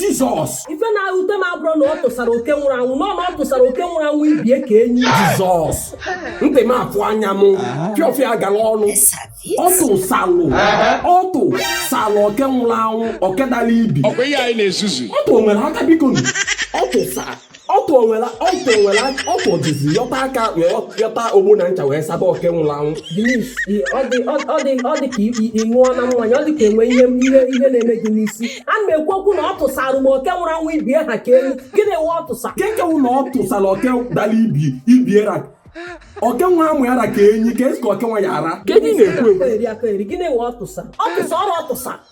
jizọs ife na-ewute m abụrụ na ọ tụsara oke nwụrụ anwụ na ọ tụsara oke nwụrụ anwụ ibie ka enyi jizọs ntị m afụ anya m fịọfịa gara ọnụ ọ tụsalụ ọ tụsalụ oke nwụrụ anwụ oke dara ibi ọtụ o nwere aka biko ọ tụsara ọtụ o nwela ọtụ o nwela ọtụ o jizi yọta aka wee yọta ogbo na ncha wee saba oke nwụrụ anwụ Denise, ị- ọ dị ọ ọ dị ọ dị ka ị- ị- ị ṅụọ na mmanya ọ dị ka e nwee ihe ihe ihe na-eme gị n'isi a na m ekwu okwu na ọ tụsara m oke nwụrụ anwụ ibie ha ka enyi gịnị wụ ọ tụsa keke wụ na ọ tụsara oke dara ibi ibiera oke nwa amụ ya ra ka enyi ka esi ka oke nwa ya ara Kedu ị na-ekwu ekwu? aka eri aka eri gịnị wụ ọ tụsa ọ tụsa ọrụ ọ tụsa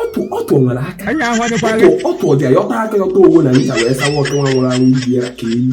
ọtụ ọtụ o nwere aka anyị ahụdịkwaghị ọtụ ọtụ o ji ayọta aka yọta owo na ncha wee sawa ọtụ nwa nwụrụ anwụ ibi ya ka enyi